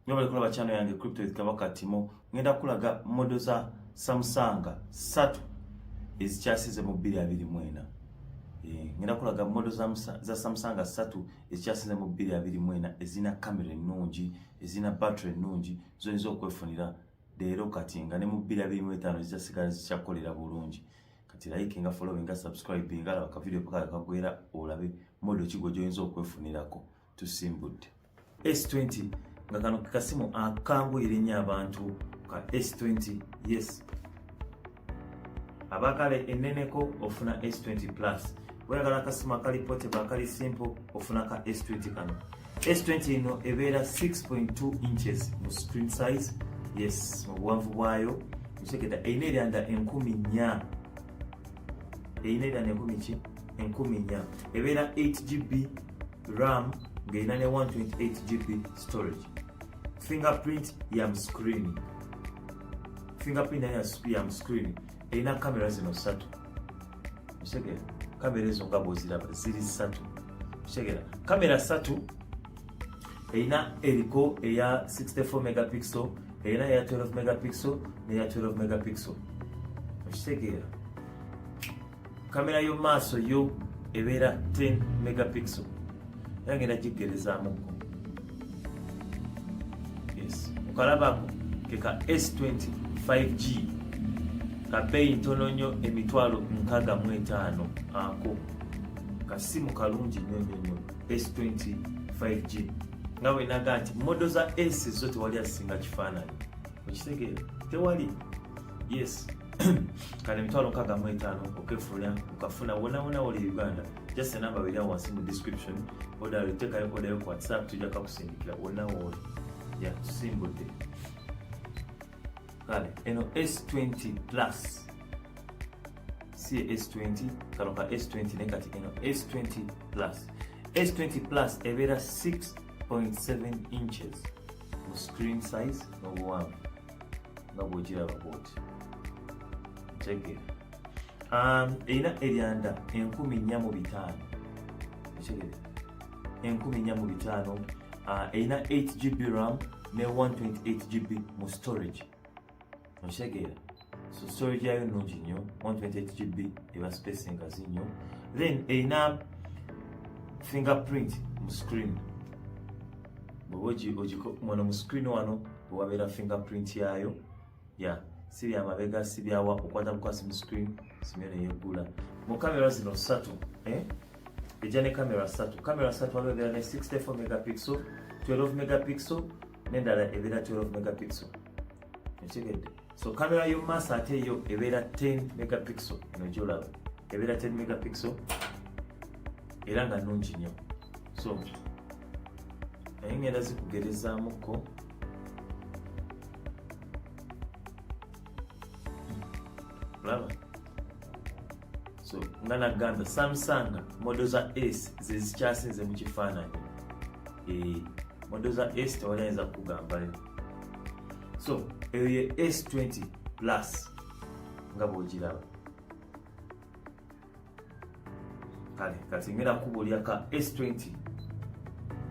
Nyo bali kulaba channel yange Crypto with Kabaka Timo. Ngenda kulaga model za Samsung satu ezikyasize mu 2024. Eh, ngenda kulaga model za, za Samsung satu ezikyasize mu 2024 ezina camera ennungi, ezina battery ennungi, zoyinza okwefunira leero kati nga ne mu 2025 zizasigala zikyakolera bulungi. Kati like nga following nga subscribe nga laba ka video paka kagwera olabe model kigo joyinza okwefunirako. tusimbudde S20 nga kano kasimu akanguyira ennyo abantu ka S20 yes abakala enneneko ofuna S20 plus weyagala akasimu akali potable akali simple ofuna ka S20 kano S20 eno ebeera 6.2 inches mu screen size yes mu buwanvu bwayo ekitegeeda erina eryanda enkumi nnya erina eryanda enkumi ki enkumi nnya ebeera 8 gb ram ng'erina ne 128 gb storage fingerprint ya mu screen fingerprint nayo ya mu screen erina kamera zino ssatu osegera kamera ezo nga bwoziraba ziri ssatu osegera kamera ssatu erina eriko eya 64 megapixel erina eya 12 megapixel neya 12 megapixel okitegeera kamera yo maaso yo ebeera 10 megapixel era ngenda giggerezaamuko yes okalabako keka s20 5g kabeeyi ntono nnyo emitwalo nkaga mu etaano ako kasimu kalungi nnyo nnyo nnyo s20 5g nga bwenaga nti modo za s zo tewali asinga kifaananyi okitegeera tewali yes kale emitwalo nkaaga mu etaano okefulumya okafuna wonawona woli e uganda just enamba beri awo wansi mu description odala otekayo odayo ku whatsapp tujja kakusindikira wonna wooli ya tusimbudde kale eno s20 plus si s20 kano ka s20 naye kati eno s20 plus s20 plus ebeera 6.7 inches mu screen size n'obuwanvu nga bwokiraba bwoti ntegera um, erina eryanda enkumi nnya mu bitaano ekitegere enkumi nnya mu bitaano uh, erina 8 gb ram ne 128 gb mu storage okitegeera so storage yayo nungi nnyo 128 gb eba space engazi nnyo then erina fingerprint mu screen bwoba ogimwana mu screen wano bwewabeera fingerprint yaayo ya si bya mabega si byawa okwata bukwasi mu screen simyo neyeggula mu kamera zino ssatu eh? ejja ne kamera ssatu kamera ssatu waliwo ebeera ne 64 megapixel 12 megapixel nendala ebeera 12 megapixel ekitegedde so kamera yomumaaso ate yo ebeera 10 megapixel eno gyolaba ebeera 10 megapixel era nga nungi nnyo so naye ngenda zikugerezaamuko olaba so nga nagamba samsung modo za s zezikyasinze mu kifaananyi eh, modo za s tewali ayinza kukugambayo so eyo ye s20 plus nga bwogiraba kale kati ngera kubulya ka s20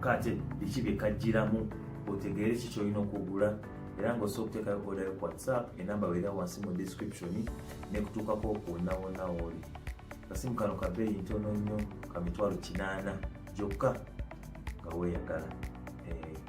kate biki byekajjiramu otegeere ki kyolina okugula era nga osobola okuteekayo odayo ku whatsapp enamba weera wansi mu description nekutuukako okuwonawonawooli kasimu kano kabeeyi ntono nnyo ka mitwalo kinaana gyokka nga weeyagala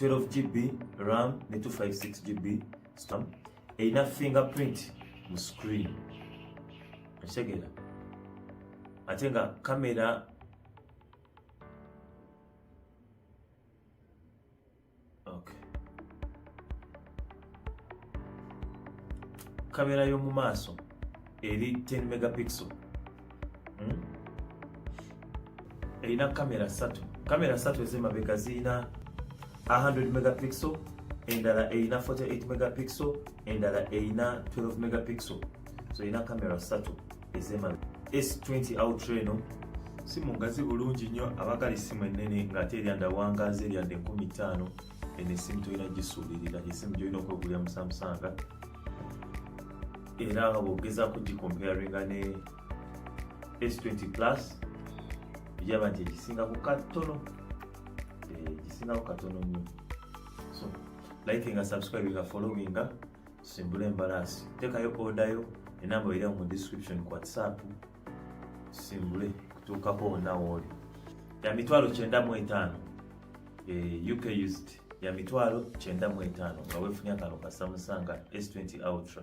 12 gb ram ne 256 gb stam erina fingerprint mu screen ekitegeera ate nga kamera kamera y'omu maaso eri 10 megapixel hmm? erina kamera ssatu kamera ssatu ez'emabega zirina 100 megapixel endala erina 48 megapixel endala erina 12 megapixel so erina kamera ssatu ez'emabega s20 outra eno simu ngazi bulungi nnyo abagala essimu ennene ng'ate eryanda wangaazi eryanda enkumi ttaano eno esimu tolina gisuubirira esimu gyolina okwegulira musamusanga era bwogezako gikomparinga ne s20 plus ojaba nti egisinga ku katono eh, egisinga ku katono nyo so like nga subscribe nga following nga simbula embalaasi tekayo odayo enamba oira mu description ku whatsapp simbule kutuukako wonawooli ya mitwalo kyenda mu etaano eh, uk used ya mitwalo kyenda mu etaano nga weefunye akano ka samsung s20 ultra